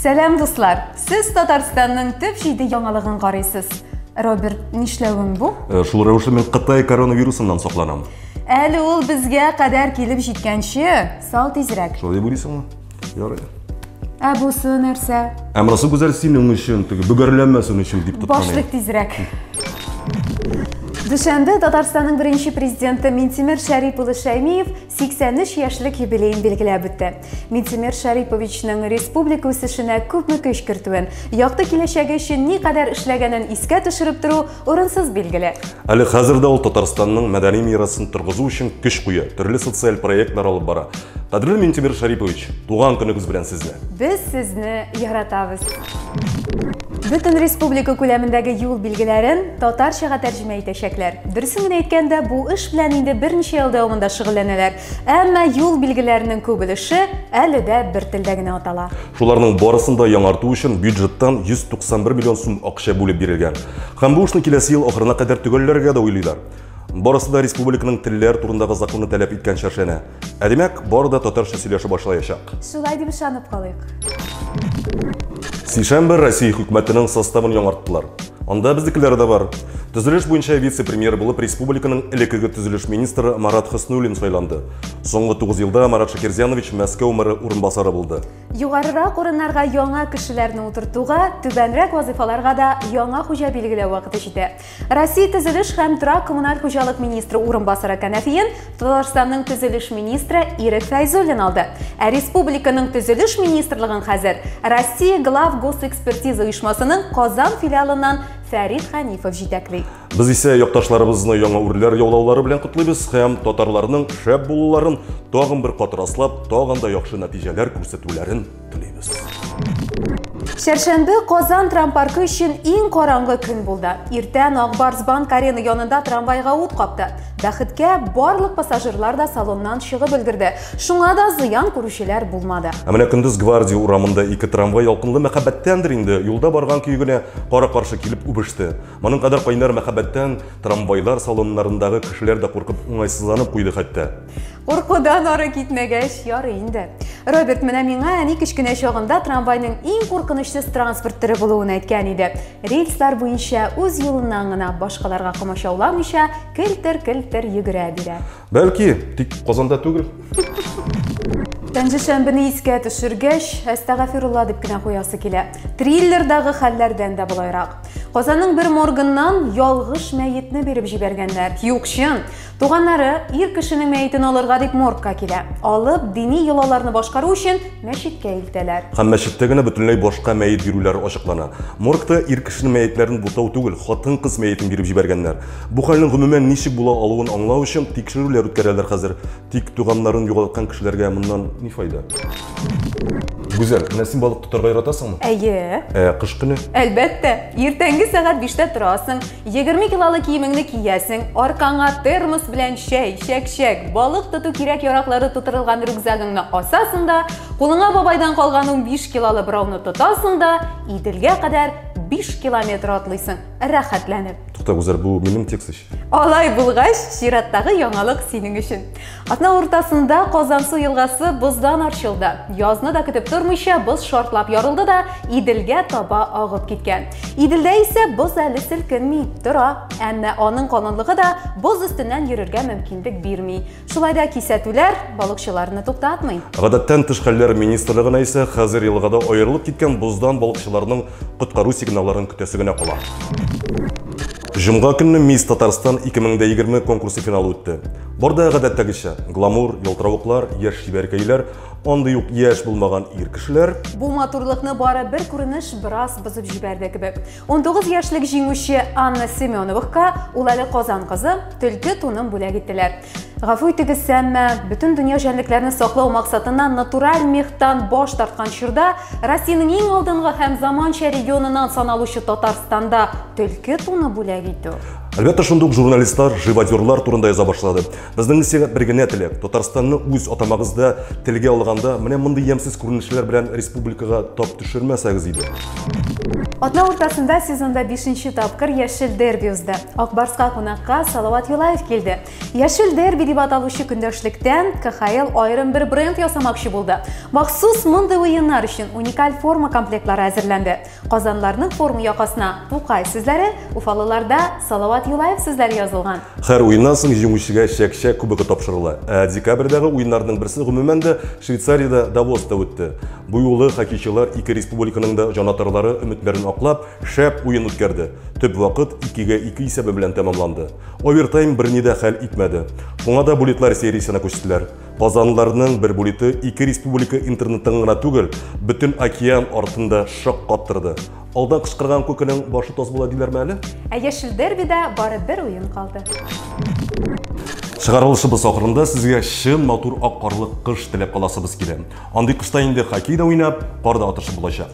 Сәлам дуслар! Сез Татарстанның төп җиде яңалыгын карыйсыз. Роберт, нишләвем бу? Э, шул рәвешле мин Кытай коронавирусыннан сакланам. Әле ул безгә кадәр килеп җиткәнче, сал тизрәк. Шулай дип уйлыйсыңмы? Ярый. Ә бусы нәрсә? Ә монысы гүзәл синең өчен, теге бөгәрләнмәсен өчен дип тоткан. Башлык тизрәк. Дүшәмбе Татарстанның беренче президенты Минтимер Шәрипулы Шәймиев 83 яшьлек юбилеен билгеләп үтте. Минтимер Шариповичның республика үсешенә күпме көч кертүен, якты киләчәге өчен ни кадәр эшләгәнен искә төшереп тору урынсыз билгеле. Әле хәзер дә ул Татарстанның мәдәни мирасын торгызу өчен көч куя, төрле социаль проектлар алып бара. Кадерле Минтимер Шарипович, туган көнегез белән сезне! Без сезне яратабыз! Бөтен республика күләмендәге юл билгеләрен татарчага тәрҗемә итәчәкләр. Дөресен генә әйткәндә, бу эш белән инде берничә ел дәвамында шөгыльләнәләр. Әмма юл билгеләренең күп өлеше әле дә бер телдә генә атала. Шуларның барысын да яңарту өчен бюджеттан 191 миллион сум акча бүлеп бирелгән. Һәм бу эшне киләсе ел ахырына кадәр төгәлләргә дә уйлыйлар. Барысы да республиканың телләр турындагы законы таләп иткәнчә эшләнә. Ә димәк, бары да татарча сөйләшә башлаячак. Шулай дип ышанып калыйк. Сишәмбе Россия хөкүмәтенең составын яңарттылар. Анда безнекеләр дә бар. Төзелеш буенча вице-премьер булып республиканың элеккеге төзелеш министры Марат Хөснуллин сайланды. Соңгы 9 елда Марат Шакирзянович Мәскәү мэры урынбасары булды. Югарырак урыннарга яңа кешеләрне утыртуга, түбәнрәк вазыйфаларга да яңа хуҗа билгеләү вакыты җитә. Россия төзелеш һәм торак-коммуналь хуҗалык министры урынбасары кәнәфиен Татарстанның төзелеш министры Ирек Фәйзуллин алды. Ә республиканың төзелеш министрлыгын хәзер Россия глав госэкспертиза оешмасының Казан филиалыннан Фәрид Хәнифов җитәкли. Без исә якташларыбызны яңа үрләр яулаулары белән котлыйбыз һәм татарларның шәп булуларын тагын бер кат раслап, тагын да яхшы нәтиҗәләр күрсәтүләрен телибез. Шәршәмбе Казан трампаркы өчен иң караңгы көн булды. Иртән Акбарс банк арена янында трамвайга ут капты. Бәхеткә барлык пассажирлар да салоннан чыгып өлгерде. Шуңа да зыян күрүчеләр булмады. Ә менә көндез Гвардия урамында ике трамвай ялкынлы мәхәббәттәндер инде, юлда барган көе генә кара-каршы килеп үбеште. Моның кадәр кайнар мәхәббәттән трамвайлар салоннарындагы кешеләр дә куркып уңайсызланып куйды хәтта. Куркудан ары китмәгәч, ярый инде. Роберт менә миңа әни кечкенә чагында трамвайның иң куркынычсыз транспорт төре булуын әйткән иде. Рельслар буенча үз юлыннан гына башкаларга комачауламыйча келтер-келтер йөгерә бирә. Бәлки, тик Казанда түгел. Пәнҗешәмбене искә төшергәч, әстәгафирулла дип кенә куясы килә. Триллердагы хәлләрдән дә болайрак. Казанның бер моргыннан ялгыш мәетне биреп җибәргәннәр. Юк, чын. Туганнары ир кешенең мәетен алырга дип моргка килә. Алып, дини йолаларны башкару өчен мәчеткә илтәләр. Һәм мәчеттә генә бөтенләй башка мәет бирүләр ачыклана. Моргта ир кешенең мәетләрен бутау түгел, хатын-кыз мәетен биреп җибәргәннәр. Бу хәлнең гомумән ничек була алуын аңлау өчен тикшерүләр үткәрәләр хәзер. Тик туганнарын югалткан кешеләргә моннан ни файда? Гүзәл, менә син балык тотарга яратасыңмы? Әйе. Ә кыш көне? Әлбәттә. Иртәнге сәгать биштә торасың, Егерме килолы киемеңне киясең, аркаңа термос белән чәй, чәкчәк, балык тоту кирәк яраклары тутырылган рюкзагыңны асасың да, кулыңа бабайдан калган 15 килолы бырауны тотасың да, Иделгә кадәр 5 километр атлыйсың, рәхәтләнеп. Тукта, Гүзәл, бу минем текст ич. Алай булгач, чираттагы яңалык синең өчен. Атна уртасында Казансу елгасы боздан арчылды. Язны да көтеп тормыйча, боз шартлап ярылды да, Иделгә таба агып киткән. Иделдә исә боз әле селкенми, тора. Әмма аның калынлыгы да боз өстеннән йөрергә мөмкинлек бирми. Шулай да кисәтүләр балыкчыларны туктатмый. Гадәттән тыш хәлләр министрлыгына исә хәзер елгада аерылып киткән боздан балыкчыларның коткару сигналларын көтәсе генә кала. Җомга көнне Мисс Татарстан 2020 конкурсы финалы үтте. Борда гадәттәгечә гламур, ялтыравыклар, яшь чибәркәйләр, андый ук яшь булмаган ир кешеләр. Бу матурлыкны бары бер күренеш бераз бозып җибәрде кебек. 19 яшьлек җиңүче Анна Семеновка ул әле Казан кызы төлке тунын бүләк иттеләр. Гафу итегез, әмма бөтен дөнья җәнлекләрне саклау максатыннан натураль мехтан баш тарткан чорда Россиянең иң алдынгы һәм заманча регионыннан саналучы Татарстанда төлке туны бүләк итү. Әлбәттә, шундук журналистлар, живодерлар турында яза башлады. Безнең сиңа бер генә теләк, Татарстанны үз атамагызда телгә алганда, менә мондый ямсыз күренешләр белән республикага тап төшермәсәгез иде. Атна уртасында сезонда 5 тапкыр Яшел дерби узды. Акбарска кунакка Салават Юлаев килде. Яшел дерби дип аталучы көндәшлектән КХЛ аерым бер бренд ясамакчы булды. Махсус мондый уеннар өчен уникаль форма комплектлары әзерләнде. Казанларның форм якасына Тукай сүзләре, уфалыларда Салават Юлаев сүзләре язылган. Һәр уеннан соң җиңүчегә чәк-чәк кубогы тапшырыла. Ә декабрьдәге уеннарның берсе гомумән дә Швейцариядә, Давоста үтте. Бу юлы хоккейчылар ике республиканың да җанатарлары өметләрен аклап, шәп уен үткәрде. Төп вакыт икегә ике исәбе белән тәмамланды. Овертайм берни дә хәл итмәде. Шуңа да булитлар сериясенә күчтеләр. Казанлыларның бер булиты ике республика интернетын гына түгел, бөтен океан артын да шаккаттырды. Алдан кычкырган күкенең башы тоз була диләрме әле? Ә яшел дербида бары бер уен калды. Чыгарылышыбыз ахырында сезгә чын матур ак карлы кыш теләп каласыбыз килә. Андый кышта инде хоккей да уйнап, кар да атышып булачак.